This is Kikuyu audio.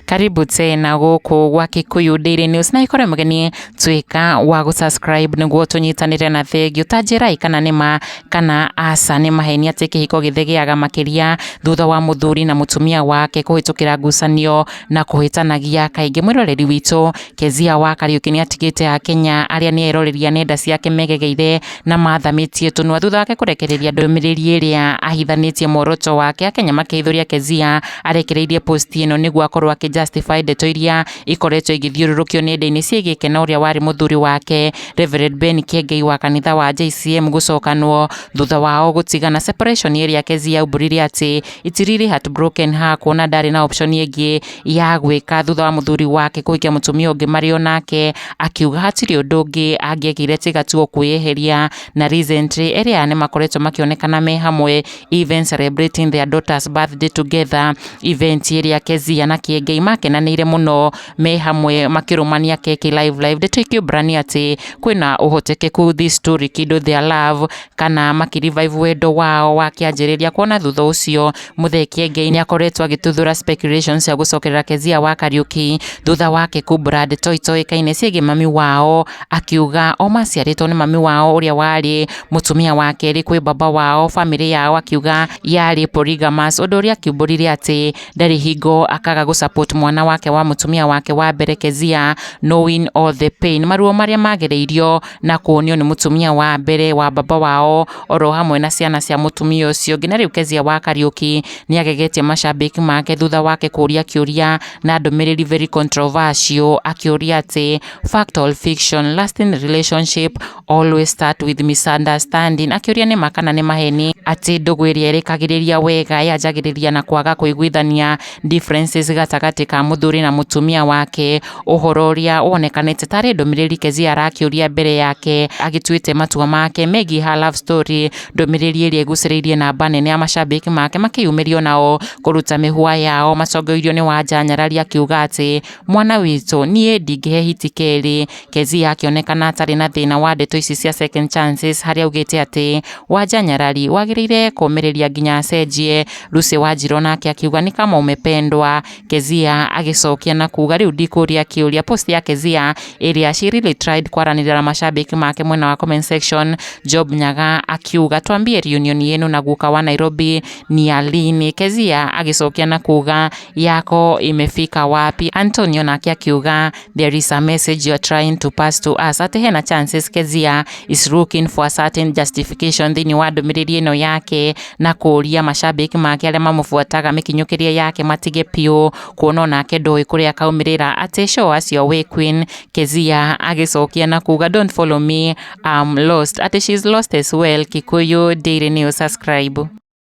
karibu tena gũkũ gwa Kikuyu Daily News na ikore mgeni tuika wa gũsubscribe nĩguo tũnyitanĩre na thengio ta njĩrai kana nĩma kana aca nĩ maheni atĩ kĩhiko gĩthĩ gĩaga makĩria thutha wa mũthuri na mũtumia wake kũhĩtũkĩra ngucanio na kũhĩtanagia kaingĩ mwĩroreri witũ Kezia wa Kariuki nĩ atigĩte Akenya arĩa nĩ eroreria nenda ciake megegeire na mathamĩtie tũnua thutha wake kũrekereria ndũmĩrĩri ĩrĩa ahithanĩtie muoroto wake Akenya makĩhithũria Kezia arekereirie post ĩno nĩguo akorwo akĩ justify ndeto iria ikoretwo igĩthiũrũrũkio nenda-inĩ ciĩgiĩ Kena ũrĩa warĩ mũthuri wake Rev Ben Kiengei wa kanitha wa JCM gũcokanwo thutha wao gũtigana separation ĩrĩa Kezia aumbũrire atĩ it's really heartbroken her kuona ndarĩ na option ĩngĩ ya gwĩka thutha wa mũthuri wake kũhikia mũtumia ũngĩ marĩ o nake akiuga hatirĩ ũndũ ũngĩ angĩekire tiga tu kwĩyeheria na recently erĩ aya nĩ makoretwo makĩonekana me hamwe even celebrating their daughter's birthday together event ĩrĩa Kezia na Kĩengei makenanĩire mũno me hamwe makĩrũmania keki live live ndeto ikĩũmbrania atĩ kwĩna ũhotekeku this story kindle their love kana makĩrevive wendo wao wa kĩanjĩrĩria kuona thutha ũcio Muthee Kiengei nĩakoretwo agĩtuthũra speculation cia gũcokerera Kezia wa Kariuki thutha wake kumbura ndeto itoĩkaine ciĩgiĩ mami wao akiuga o maciarĩtwo nĩ mami wao ũrĩa warĩ mũtumia wa kerĩ kwĩ baba wao famĩlĩ yao akiuga yarĩ polygamous ũndũ ũrĩa akiumbũrire atĩ ndarĩ hingo akaga gũsupport mwana wake wa mũtumia wake wa mbere Kezia knowing all the pain maruo marĩa magereirio na kuonio nĩ mũtumia wa mbere wa baba wao oro hamwe na ciana cia mũtumia ũcio ũngĩ na rĩu Kezia wa Kariuki nĩ agegetie macambĩki make thutha wake kũria kĩũria na ndũmĩrĩri very controversial akĩũria atĩ fact or fiction lasting relationship always start with misunderstanding akĩũria nĩ ma kana nĩ maheni atĩ ndũgũ ĩrĩa ĩrĩkagĩrĩria wega yanjagĩrĩria na kwaga kũiguithania differences gatagatĩ ka mũthuri na mũtumia wake, ũhoro ũrĩa wonekanĩte tarĩ ndũmĩrĩri Kezia arakĩũria mbere yake agĩtuĩte matua make megiĩ her love story, ndũmĩrĩri ĩrĩa ĩgucĩrĩirie namba nene ya macambĩki make makĩyumĩria onao kũruta mĩhũa yao macongoirio nĩ Wanja nyarari akiuga atĩ mwana witũ niĩ ndingĩhe hiti kerĩ Kezia akĩonekana atarĩ na thĩna wa ndeto ici cia second chances harĩa augĩte atĩ Wanja Nyarari wagĩrĩire kũmĩrĩria nginya acenjie. Lucy Wanjirũ nake akiuga nĩ kama umependwa. Kezia agĩcokia na kuga rĩu ndikũria kĩũria. Post ya Kezia ĩrĩa she really tried kwaranĩria na mashabiki make mwena wa comment section. Job Nyaga akiuga twambie reunion yenu na guka wa Nairobi ni ya lini. Kezia agĩcokia na kuga yako imefika wapi. Antonio nake akiuga There is a message you are trying to pass to us atĩ hena chances Kezia is looking for a certain justification thĩinĩ wa ndũmĩrĩri ĩno yake na kũũria macambĩki make arĩa mamũbuataga mĩkinyũkĩrie yake matige piũ kuona onake ndũĩ kũrĩa akaumĩrĩra atĩ show us your way queen Kezia agĩcokia na kuga don't follow me I'm lost atĩ she is lost as well Kikuyu Daily News subscribe